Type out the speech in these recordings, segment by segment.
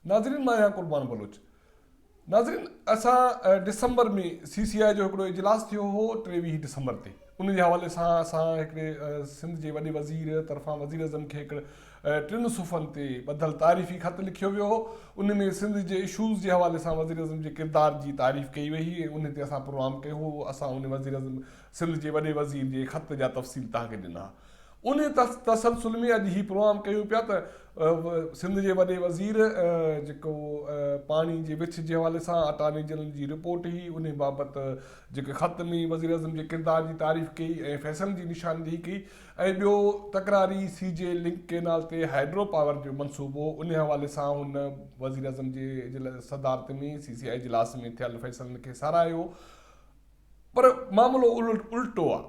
ناظرين مان آهيان قربان بلوچ ناظرين اسان ڊسمبر ۾ سي سي آء جو هڪڙو اجلاس ٿيو هو ٽيويهه ڊسمبر تي ان جي حوالي سان اسان هڪڙي سنڌ جي وڏي وزير طرفان وزيراعظم کي هڪڙي ٽن صفحن تي ٻڌل تعريفي خط لکيو ويو هو، ان ۾ سنڌ جي اشوز جي حوالي سان وزيراعظم جي ڪردار جي تعريف ڪئي وئي هئي ۽ ان تي اسان پروگرام ڪيو هو، اسان ان وزيراعظم سنڌ جي وڏي وزير جي خط جا تفصيل توهان کي ڏنا. ان تسلسل ۾ اڄ هي پروگرام ڪيون پيا ته سنڌ جي وڏي وزير جيڪو پاڻي جي وڇ جي حوالي سان اٽارني جنرل جي رپورٽ هئي ان بابت جيڪي خط ۾ وزيراعظم جي ڪردار جي تعريف ڪئي ۽ فيصلن جي نشاندهي ڪئي ۽ ٻيو تڪراري سي جي لنڪ ڪينال تي هائيڊرو پاور جو منصوبو، ان حوالي سان هن وزيراعظم جي صدارت ۾ سي سي آء اجلاس ۾ ٿيل فيصلن کي ساراهيو پر معاملو الٽو آ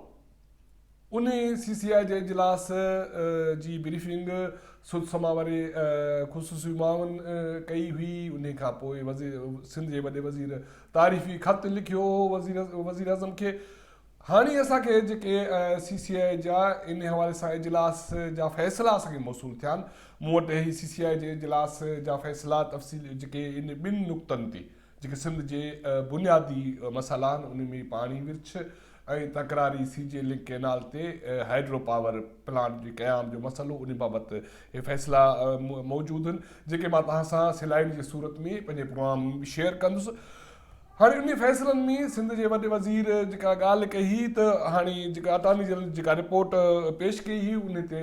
ان سي سي آء جي اجلاس جي بريفنگ سڌ سما واري خصوصي معاون ڪئي هئي ان کانپوء سنڌ جي وڏي وزير تعريفي خط لکيو هو وزيراعظم کي هاڻي اسان کي جيڪي سي سي آء جا ان حوالي سان اجلاس جا فيصلا اسان کي موصول ٿيا آهن، مون وٽ اهي سي سي آء جي اجلاس جا فيصلا تفصيل جيڪي ان ٻن نقطن تي جيڪي سنڌ جي بنيادي مسئلا آهن انهن ۾ پاڻي ورڇ ۽ تڪراري سي جي لنڪ ڪئنال تي هائيڊرو پاور پلانٽ جي قيام جو مسئلو ان بابت اهي فيصلا موجود آهن جيڪي مان توهان سان سلائيڊ جي صورت ۾ پنهنجي پروگرام ۾ شيئر ڪندس. هاڻي انهن فيصلن ۾ سنڌ جي وڏي وزير جيڪا ڳالهه ڪئي هئي ته هاڻي جيڪا اٽارني جنرل جيڪا رپورٽ پيش ڪئي هئي انهي تي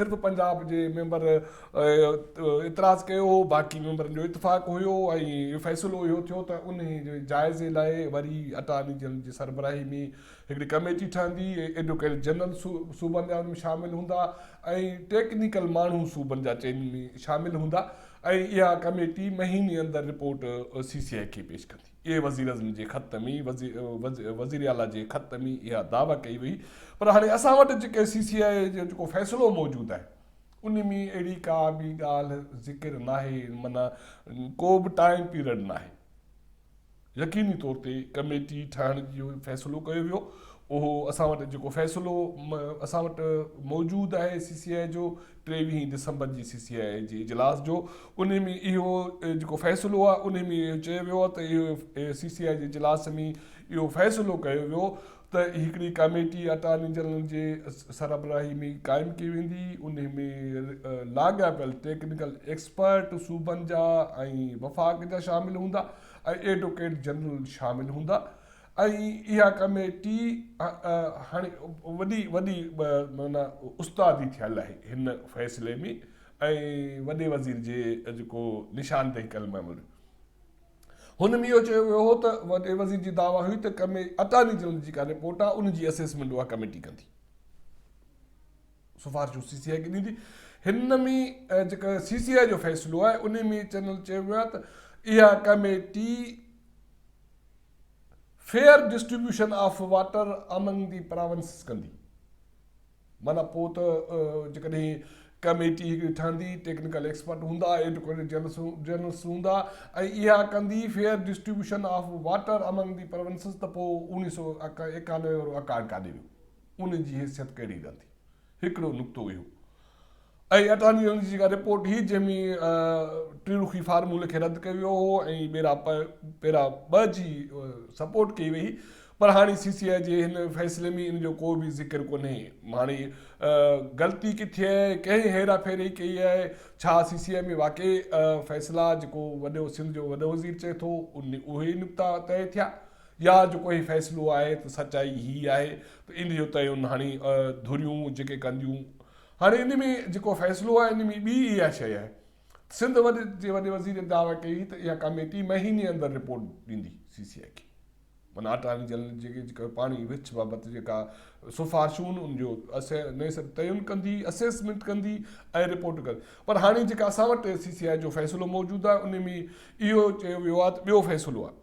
صرف پنجاب جي ميمبر اعتراض ڪيو هو باقي ميمبرن جو اتفاق هيو ۽ فيصلو اهو ٿيو ته انهي جي جائزي لاء وري اٽارني جنرل جي سربراهي ۾ هڪڙي ڪميٽي ٺهندي ايڊوڪيٽ جنرل صوبن جا ان ۾ شامل هوندا ۽ ٽيڪنيڪل ماڻهو صوبن جا چئن ۾ شامل هوندا ۽ اها ڪميٽي مهيني اندر رپورٽ سي سي آء کي پيش ڪندي. اي وزيراعظم جي خط ۾ وزيراعليٰ جي خط ۾ اها دعويٰ ڪئي وئي پر هاڻي اسان وٽ جيڪي سي سي آء جو جيڪو فيصلو موجود آهي ان ۾ اهڙي ڪا به ڳالهه ذڪر ناهي معنيٰ ڪو به ٽائيم پيرڊ ناهي. يقيني طور تي ڪميٽي ٺاهڻ جي فيصلو ڪيو ويو اهو اسان وٽ جيڪو فيصلو اسان وٽ موجود آهي سي سي آء جو ٽيويهين ڊسمبر جي سي سي آء جي اجلاس جو ان ۾ اهو جيڪو فيصلو آهي ان ۾ اهو چيو ويو آهي ته اهو سي سي آء جي اجلاس ۾ اهو فيصلو ڪيو ويو ته هڪڙي ڪاميٽي اٽارني جنرل جي سربراهي ۾ قائم ڪئي ويندي، ان ۾ لاڳاپيل ٽيڪنيڪل ايڪسپرٽ صوبن جا ۽ وفاق جا شامل هوندا ۽ ايڊوڪيٽ جنرل شامل هوندا ۽ اها ڪاميٽي هاڻي وڏي وڏي معنيٰ استادي ٿيل آهي هن فيصلي ۾ ۽ وڏي وزير جي جيڪو نشاندهي ڪيل ميموريو هن ۾ اهو چيو ويو هو ته وڏي وزير جي دعويٰ هئي ته ڪمي اٽارني جنرل جي ڪا رپورٽ آهي ان جي اسيسمينٽ اها ڪميٽي ڪندي. سفارشون سي سي آء کي ڏيندي. هن ۾ جيڪا سي سي آء جو فيصلو آهي ان ۾ چينل چيو ويو آهي ته اها committee fair distribution of water among the provinces ڪندي. معنيٰ پوء ته جيڪڏهن ڪميٽي هڪڙي ٺهندي، ٽيڪنيڪل ايڪسپرٽ هوندا، ايڊوڪيٽ جنرلس هوندا ۽ اها ڪندي fair distribution of water among the provinces ته پوء اڻيهه سؤ ايڪانوي وارو اڪارڊ ڪاڏي ويو؟ ان جي حيثيت ڪهڙي رهندي؟ هڪڙو نقطو اهو. اهي اٽارني جنرل جي جيڪا رپورٽ هئي جنهن ۾ ٽي رخي فارمولي کي رد ڪيو ويو هو ۽ ٻيرا پيرا ٻه جي سپورٽ ڪئي وئي پر هاڻي سي سي آء جي هن فيصلي ۾ ان جو ڪو به ذڪر ڪونهي هاڻي غلطي ڪٿي آهي ڪنهن هيرا ڦيري ڪئي آهي ڇا سي سي آء ۾ واقعي فيصلا جيڪو وڏو سنڌ جو وڏو وزير چئي ٿو اهي نقطا طئي ٿيا يا جيڪو هي فيصلو آهي ته سچائي هي آهي ته ان جو تعين هاڻي ڌريون جيڪي ڪنديون هاڻي ان ۾ جيڪو فيصلو آهي ان ۾ ٻي اها شيء آهي ته سنڌ وڏي جي وڏي وزير دعويٰ ڪئي ته اها ڪاميٽي مهيني اندر رپورٽ ڏيندي سي سي آء کي معنيٰ اٽارني جنرل جي جيڪا پاڻي وڇ بابت جيڪا سفارشون ان جو تعين ڪندي اسيسمينٽ ڪندي ۽ رپورٽ ڪندي پر هاڻي جيڪا اسان وٽ سي سي آء جو فيصلو موجود آهي ان ۾ اهو چيو ويو آهي ته ٻيو فيصلو آهي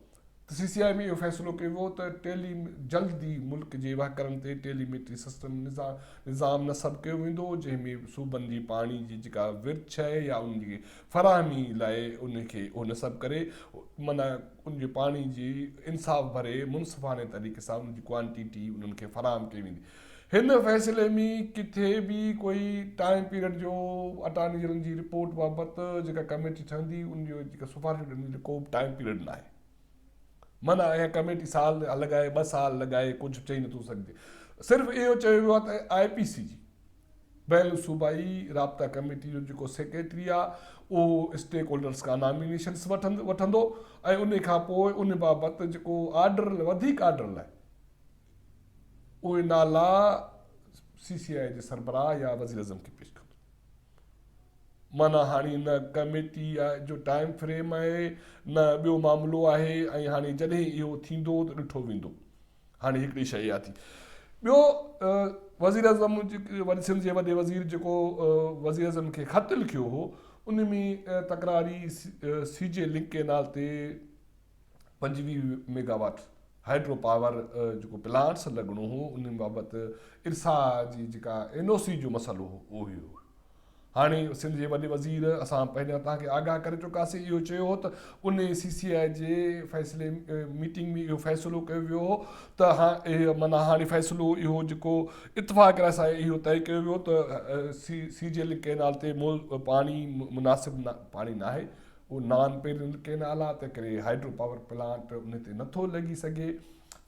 سي سي آء ۾ اهو فيصلو ڪيو ويو ته ٽيلي جلد ئي ملڪ جي وهڪرن تي ٽيلي ميٽري سسٽم نظام نصب ڪيو ويندو جنهن ۾ صوبن جي پاڻي جي جيڪا ورڇ آهي يا ان جي فراهمي لاء ان کي اهو نصب ڪري معنيٰ ان جي پاڻي جي انصاف ڀري منصفاڻي طريقي سان ان جي ڪوانٽيٽي انهن کي فراهم ڪئي ويندي هن فيصلي ۾ ڪٿي به ڪوئي ٽائيم پيريڊ جو اٽارني جنرل جي رپورٽ بابت جيڪا ڪميٽي ٺهندي ان جون جيڪا سفارشون ڏني ته ڪوبه ٽائيم پيريڊ ناهي منع اها ڪميٽي سال لڳائي ٻه سال لڳائي ڪجهه چئي نٿو سگهجي صرف اهو چيو ويو آهي ته آء پي سي جي بين الصوبائي رابطا ڪميٽي جو جيڪو سيڪريٽري آهي اهو اسٽيڪ هولڊرز کان نامينيشنس وٺندو ۽ ان کان پوء ان بابت جيڪو آرڊر وڌيڪ آرڊر لاء اهي نالا سي سي آء جي سربراهه يا وزيراعظم کي پيش ڪندو. معنيٰ هاڻي نه ڪميٽي جو ٽائيم فريم آهي نه ٻيو معاملو آهي ۽ هاڻي جڏهن اهو ٿيندو ته ڏٺو ويندو. هاڻي هڪڙي شيء اها ٿي. ٻيو وزيراعظم سنڌ جي وڏي وزير جيڪو وزيراعظم کي خط لکيو هو ان ۾ تڪراري سي جي لنڪ ڪينال تي پنجويهه ميگا واٽ هائيڊرو پاور جيڪو پلانٽس لڳڻو هو ان بابت ارسا جي جيڪا اين او سي جو مسئلو هو اهو هو هاڻي سنڌ جي وڏي وزير اسان پهريان توهان کي آگاهه ڪري چڪاسين اهو چيو هو ته ان سي سي آء جي فيصلي ميٽنگ ۾ اهو فيصلو ڪيو ويو هو ته اهو مانا هاڻي فيصلو اهو جيڪو اتفاق رائے سان اهو طئي ڪيو ويو ته C C J L canal تي پاڻي مناسب پاڻي ناهي اهو نان پيرل ڪينال آهي تنهنڪري هائيڊرو پاور پلانٽ ان تي نٿو لڳي سگهي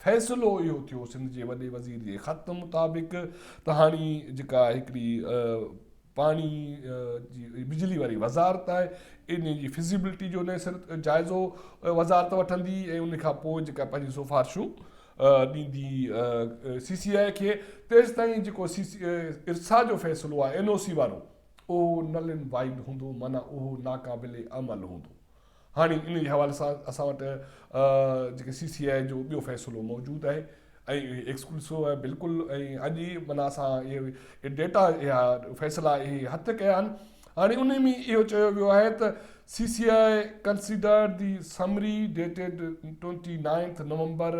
فيصلو اهو ٿيو سنڌ جي وڏي وزير جي خط مطابق ته هاڻي جيڪا هڪڙي پاڻي جي بجلي واري وزارت آهي ان جي فزيبلٽي جو نئين سر جائزو وزارت وٺندي ۽ ان کان پوء جيڪا پنهنجي سفارشون ڏيندي سي سي آء کي تيسي تائين جيڪو سي سي ارسا جو فيصلو آهي اين او سي وارو اهو نل اينڊ وائيڊ هوندو معنيٰ اهو ناقابل عمل هوندو. هاڻي ان جي حوالي سان اسان وٽ جيڪي سي سي آء جو ٻيو فيصلو موجود آهي ۽ اهي ايڪسڪلوسو آهي بلڪل ۽ اڄ ئي معنيٰ اسان اهي ڊيٽا اها فيصلا اهي هٿ ڪيا آهن هاڻي ان ۾ اهو چيو ويو آهي ته C C I considered the summary dated twenty ninth November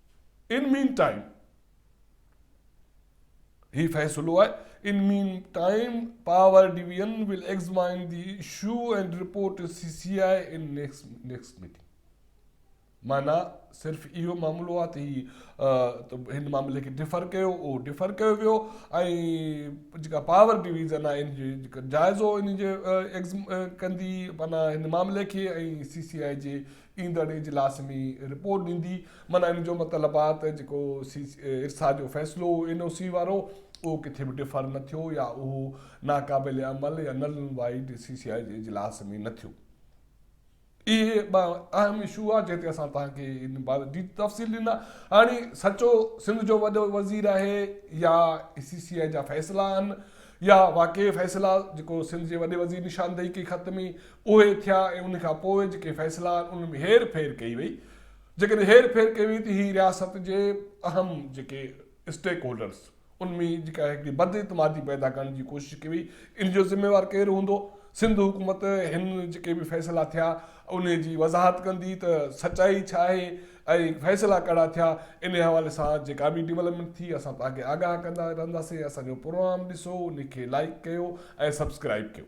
in main time هي فيصلو آهي in main time power division will examine the issue and report C C I in next meeting معنی صرف اهو معاملو آ ته هي هن معاملي کي ڊفر ڪيو اهو ڊفر ڪيو ويو ۽ جيڪا پاور ڊويزن آ ان جي جيڪا جائزو ان جي ڪندي معنی هن معاملي کي ۽ سي سي آء جي ايندڙ اجلاس ۾ رپورٽ ڏيندي معنيٰ ان جو مطلب آ ته جيڪو ارسا جو فيصلو هو اين او سي وارو اهو ڪٿي به ڊفر نه ٿيو يا اهو ناقابل عمل يا null and void C C I جي اجلاس ۾ نه ٿيو اهي ٻه اهم اشو آ جنهن تي اسان توهان کي ان بابت ڊيٽ تفصيل ڏنا هاڻي سچو سنڌ جو وڏو وزير آهي يا سي سي آء جا فيصلا آهن يا واقعي فيصلا جيڪو سنڌ جي وڏي وزير نشاندهي ڪئي خط ۾ اهي ٿيا ۽ ان کان پوء جيڪي فيصلا آهن انهن ۾ هير ڦير ڪئي وئي جيڪڏهن هير ڦير ڪئي وئي ته هي رياست جي اهم جيڪي اسٽيڪ هولڊرز ان ۾ جيڪا هڪڙي بد اعتمادي پيدا ڪرڻ جي ڪوشش ڪئي وئي ان جو ذميوار ڪير هوندو سنڌ حڪومت هن جيڪي به فيصلا ٿيا انهي جي وضاحت ڪندي ته سچائي ڇا آهي ۽ فيصلا ڪهڙا ٿيا انهي حوالي سان جيڪا به ڊولپمينٽ ٿي اسان توهان کي آگاهه ڪندا رهنداسين اسان جو پروگرام ڏسو ان کي لائيڪ ڪيو ۽ سبسڪرائيب ڪيو.